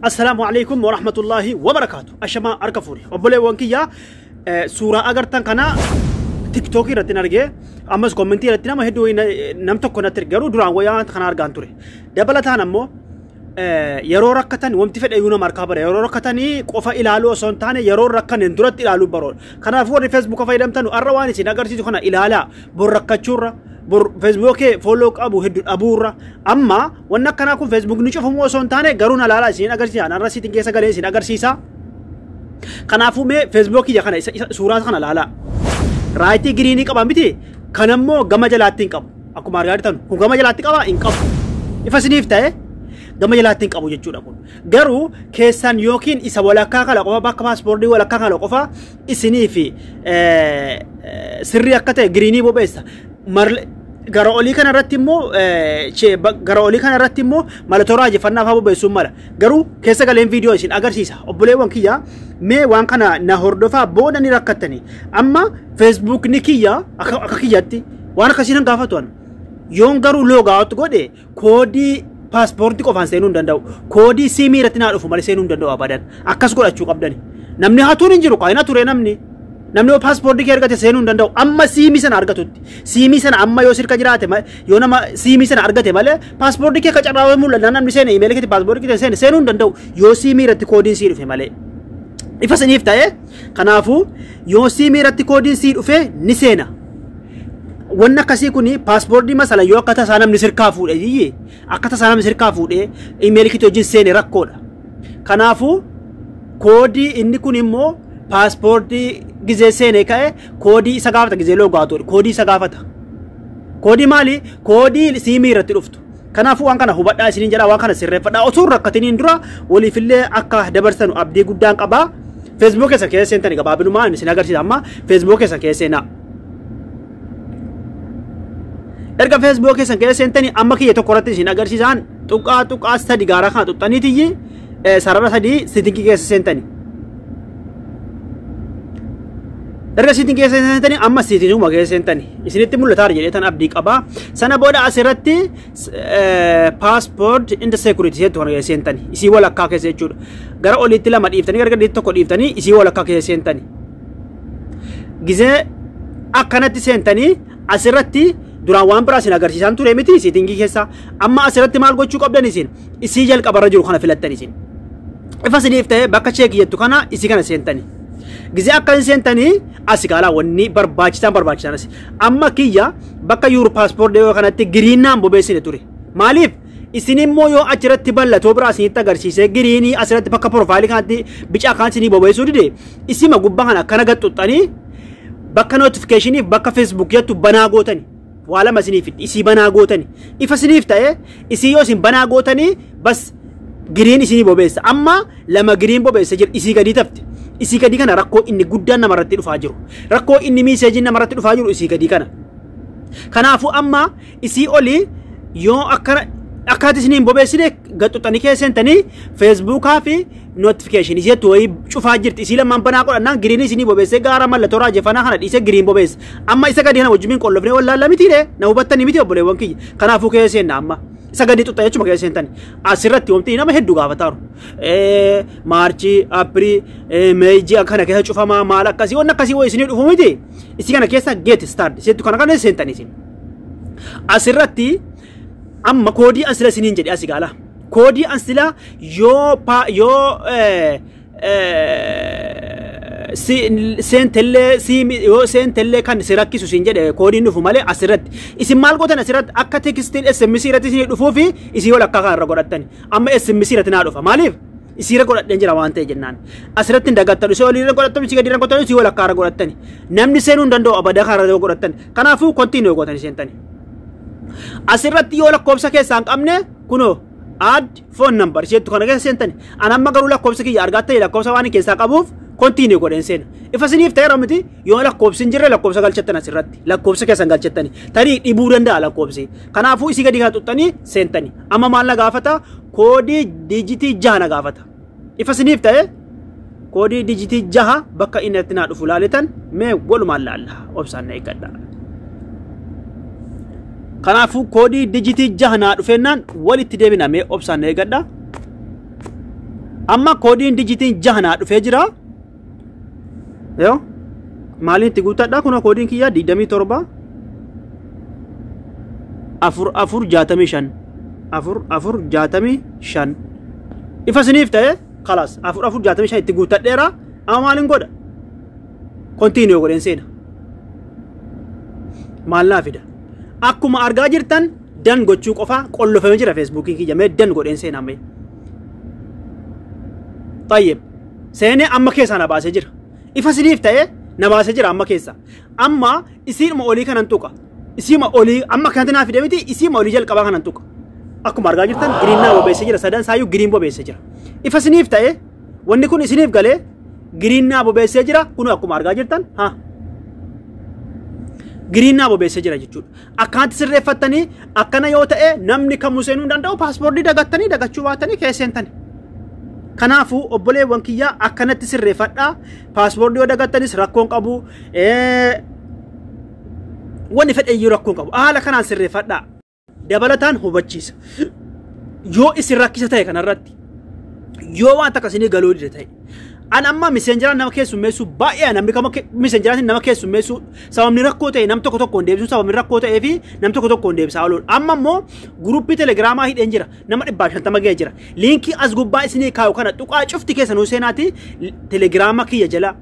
Assalaamu alaikum wa rahmatullahi wa barakaatu. Ashamaa harka fuuri. Obboleewwan kiyyaa eh, suuraa agartan kana tiktookii irratti hin argee ammas kommentii irratti nama hedduu wayii na- nam tokko natti erge. garuu duraan wayyaa kana argaan ture. Dabalataan ammoo eh, yeroo rakkatan wanti fedhe iyyuu nama harkaa bara yeroo rakkatanii qofa ilaaluu osoo hin taane yeroo rakkanen duratti ilaaluu baroodha. Kanaafuu warri feesbuuka fayyadamtanu har'a waan isin agarsiisu kana ilaalaa bor rakkachuurra bor feesbuukee fooloo qabu hedduu dhabuurra amma Wanni akkanaa kun Facebook ni cufamuu osoo hin taane garuu na laalaa isin agarsiisa. Anarra sitiin keessa galee isin agarsiisa. Kanaafuu mee Facebook kiyya kana isa, isa suuraa kana laalaa. Raayitii giriinii qaba miti. Kan ammoo gama jalaatti hin qabu. Akkuma argaa jirtan kun gama jalaatti qaba hin qabu. Ifa isiniif ta'e gama jalaatti hin qabu jechuudha kun. Garuu keessan yookiin isa walakkaa kana qofa bakka paaspoortii walakkaa kana qofa isinii fi eh, eh, sirrii akka ta'e giriinii bobeessa. Marle gara olii kana irratti immoo eh, che- ba- gara olii kana irratti immoo mallattoo raajeffannaa fa'aa bobeessuun mala. Garuu keessa galeen viidiyoo isin agarsiisa. Obboleewwan kiyya mee waan kana na hordofaa booda ni rakkattani. Amma feesbuukni kiyya akka akka kiyyatti waan akkasiin hin gaafatu ani. Yoon garuu loogaawatti godhe koodii paaspoortii qofaan seenuu hin danda'u. Koodii siimii irratti naa dhufu malee seenuu hin danda'u abadan. Akkas godhachuu qabdani. Namni hatuun hin jiru kaa hin hature namni. Namni paaspoortii kee argate seenuu hin danda'u. Amma siimii sana argatutti. Siimii sana amma yoo sirka jiraate ma- yoo nama siimii sana argate malee paaspoortii kee qacarraa mul'ata namni seene imeelii keetti paaspoortii kee seene seenuu hin danda'u. Yoo siimii irratti koodiin sii dhufe malee. Ifa siniif ta'e kanaafuu yoo siimii irratti koodiin sii dhufe ni seena. wanni akkasii kun paaspoortii masala yoo akka tasaa namni sirkaa fuudhe jiyye akka tasaa namni sirkaa fuudhe imeelii kiti wajjin seene rakkoodha. Kanaafuu koodii inni kun immoo paaspoortii gizee seene ka'e koodii isa gaafata gizee loogaatu koodii isa gaafata. Koodii maali? Koodii siimii irratti dhuftu. Kanaafuu waan kana hubadhaa isiniin jedhaa waan kana sirreeffadhaa osoo hin rakkatiniin dura waliifillee akka dabarsanu abdii guddaan qabaa. Facebook keessa keessa seentani gabaabinuma isin agarsiisa amma Facebook keessa keessa seenaa. erga feesbuukii keessan keessa seentanii amma kiyya tokko irratti isin agarsiisaan tuqaa tuqaa sadi gaara kana tuqxaniitiyyi sarara sadii sitingii keessa seentanii. Erga siitiin keessa seentanii amma siitiinuma keessa seentanii isinitti mul'ataa jedhee tan abdii qabaa sana booda asirratti paaspoort inda seekuritii seetu kana keessa seentanii isii walakkaa keessa jechuudha gara oliitti lama dhiiftanii gara gadiitti tokko dhiiftanii isii walakkaa keessa seentanii. Gizee akkanatti seentanii asirratti duraan waan biraa isin agarsiisaan ture miti siitingii keessa amma asirratti maal gochuu qabdan isin isii jalqabarra jiru kana filattan isin ifa isiniif ta'e bakka cheeki jettu kana isii kana seentanii gizee akka hin seentanii asi kaalaa wanni barbaachisaan barbaachisaan asi amma kiyya bakka yuur paaspoortii yoo kanatti giriinnaan bobeessine ture maaliif Isin immoo yoo achirratti bal'atoo biraa isinitti agarsiisee giriinii asirratti bakka piroofaayilii kanatti bicaa kaan isinii bobeessuu dide isima gubbaa kana akkana gad xuxxanii bakka notifikashiniif bakka feesbuuk jettu banaa gootani. Waa lama isiniif fiddi isii banaa gootani. Ifa isiniif ta'e isii yoo isin banaa gootanii bas giriin isinii bobeessa. Amma lama giriin bobeessa jira isii gadii tafte. Isii gadii kana rakkoo inni guddaan namarratti dhufaa jiru. Rakkoo inni miiseejiin namarratti dhufaa jiru isii gadii kana. Kanaafuu amma isii oli yoo akkana akkaati isin hin bobeessine gaxxuxanii kee seentanii feesbuukaa fi notifikashin isii jettu wayii cufaa jirti isii lamaan banaa godhannaan giriin isinii bobeessee gaara mallattoo raajeffannaa kana dhiisee giriin bobeessa amma isa gadi kana wajjin qollofnee wallaalla mitiire na hubattanii miti obboleewwan kiyya kanaafuu kee seenna amma isa gadi xuxxa jechuma kee seentani asirratti wanti nama hedduu gaafataaru maarchii apirii meejii akkana keessa cufamaa maal akkasii wanni akkasii wayii isinii dhufu miti isii kana keessa geeti staard isii kana kana seentanii isin. Asirratti amma koodii an sila isiniin jedhe asi gaala. Koodii an sila yoo pa yoo eh, eh, si seentellee si yoo seentellee kan si rakkisu siin jedhe koodiin dhufu malee asirratti isin maal gootan asirratti akka tekstiin SMS irratti isin dhufuu fi isin yoo lakkaa kanarra godhattan amma SMS irratti naa dhufa maaliif isiirra godhadheen jira waan ta'e jennaan asirratti hin dagattanu si oliirra godhattanu si gadiirra godhattanu si walakkaarra godhattani namni seenuu hin danda'u abada kaarra yoo godhattan kanaafuu kontiinuu gootanii seentani asirratti yoo lakkoofsa keessaa hin qabne kunoo add phone number jettu kana keessa seentani an amma garuu lakkoofsa kiyya argaa ta'e lakkoofsa waan keessaa qabuuf kontiinuu godheen seena ifa siniif ta'eera miti yoo lakkoofsi hin jirre lakkoofsa galchattan asirratti lakkoofsa keessan galchattani tarii dhibuu danda'a lakkoofsi Kanaafuu isii gadi kana xuxxanii seentanii. Amma maal na gaafata? Koodii diijitii jaha na gaafata. Ifa isiniif ta'e koodii diijitii jaha bakka inni irratti naa dhufu laaletan mee walumaan laalla obsaan na eeggadha. Kanaafuu koodii diijitii jaha naa dhufeennaan walitti deebina mee obsaan na eeggadha. Amma koodiin diijitiin jaha naa dhufee jira. yoo maaliin itti guuttadha kun koodiin kiyyaa 27 afur afur jaatamii shan afur afur jaatamii shan ifa isiniif ta'e kalaas afur afur jaatamii shan itti guuttadheera amma maaliin godha kontiiniyoo godheen seena maal naa fida akkuma argaa jirtan dan gochuu qofaa qollofame jira feesbuukiin kiyya mee dan godheen seena mee. Tayyib. seenee amma keessaa na baasee jira. Ifa isiniif ta'ee na baasee jira amma keessaa. Amma isiidhuma olii kanan tuqa. Isiima olii amma kanatti naa fide miti isiima olii jalqabaa kanan tuqa. Akkuma argaa jirtan giriin naa bobeessee jira sadan isaayyuu giriin bobeessee jira. Ifa isiniif ta'ee wanni kun isiniif galee giriin naa bobeessee jira kun akkuma argaa jirtan haa. Giriin naa bobeessee jira jechuudha. Akkanatti sirreeffattanii akkana yoo ta'e namni kamuu seenuu hin danda'u paaspoortii dagattanii dagachuu baatanii kee seentanii. Kanaafuu obboleewwan kiyyaa akkanatti sirreeffadhaa paaspoortii yoo dagattanis rakkoon qabu wanni fedhe iyyuu rakkoon qabu haala kanaan sirreeffadhaa. Dabalataan hubachiisa. Yoo isin rakkisa ta'e kanarratti yoo waan takka isinii galuu dide ta'e an amma miseenjaraan nama keessummeessuu baay'ee namni kama miseenjaraatiin nama keessummeessuu sababni rakkoo ta'e nam tokko tokkoon deebisuu sababni rakkoo ta'ee fi nam tokko tokkoon deebisaa ooluun amma immoo guruppii telegiraamaa hidheen jira nama dhibbaa shantama ga'ee jira liinkii as gubbaa isinii kaa'u kana tuqaa cufti keessa nuu seenaati telegiraama kiyya jala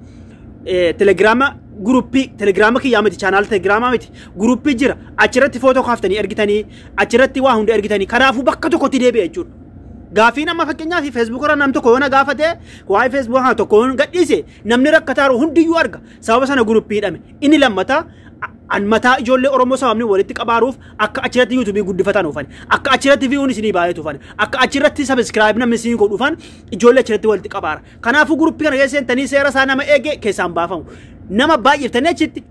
telegiraama guruppii telegiraama kiyyaa miti chaanaal telegiraamaa miti guruppii jira achirratti footoo kaaftanii ergitanii achirratti waa hunda ergitanii kanaafuu bakka tokkotti deebi'a jechuudha. Gaaffiin amma fakkeenyaaf Facebook irra nam tokko yoo na gaafate waa'ee Facebook kana tokko yoo gadhiise namni rakkataaru hundiyyuu arga sababa sana guruppii hidhame inni lammataa an mataa ijoollee Oromoo sababni walitti qabaaruuf akka achirratti yuutuubii guddifatan oofan akka achirratti viiyuun isinii baay'atu oofan akka achirratti sabiskiraayib namni isinii godhu oofan ijoollee achirratti walitti qabaara kanaafuu guruppii kana keessa seentanii seera isaa nama eege keessaan baafamu nama baay'iftanii achitti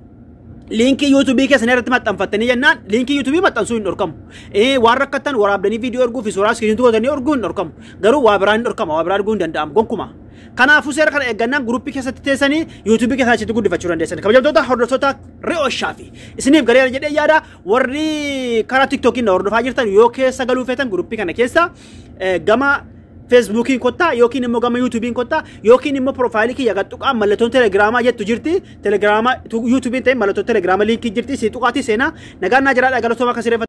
liinkii yuutubii keessan irratti maxxanfattanii jennaan liinkii yuutubii maxxansuu hin dhorkamu. Ee waan rakkattan waraabdanii viidiyoo erguu fi suuraa iskiriintuu gootanii erguu hin dhorkamu. Garuu waa biraa hin dhorkama waa biraa arguu hin danda'amu gonkumaa. Kanaafuu seera kana eeggannaan guruppii keessatti teessanii yuutubii keessaa achitti guddifachuu dandeessan. Kabajamtoota hordoftoota re'ooshaa fi isiniif gareera jedhee yaada warri karaa tiktookiin na hordofaa jirtan yoo keessa galuu feetan guruppii kana keessa eh, gama feesbuukiin kottaa yookiin immoo gama yuutuubiin kottaa yookiin immoo piroofaayilii kiyya gad tuqaa mallattoon telegiraamaa jettu jirti telegiraama yuutuubiin ta'e mallattoo telegiraama liinkii jirti si tuqaatii seenaa nagaan naa jiraadha galatooma akka sireeffatu.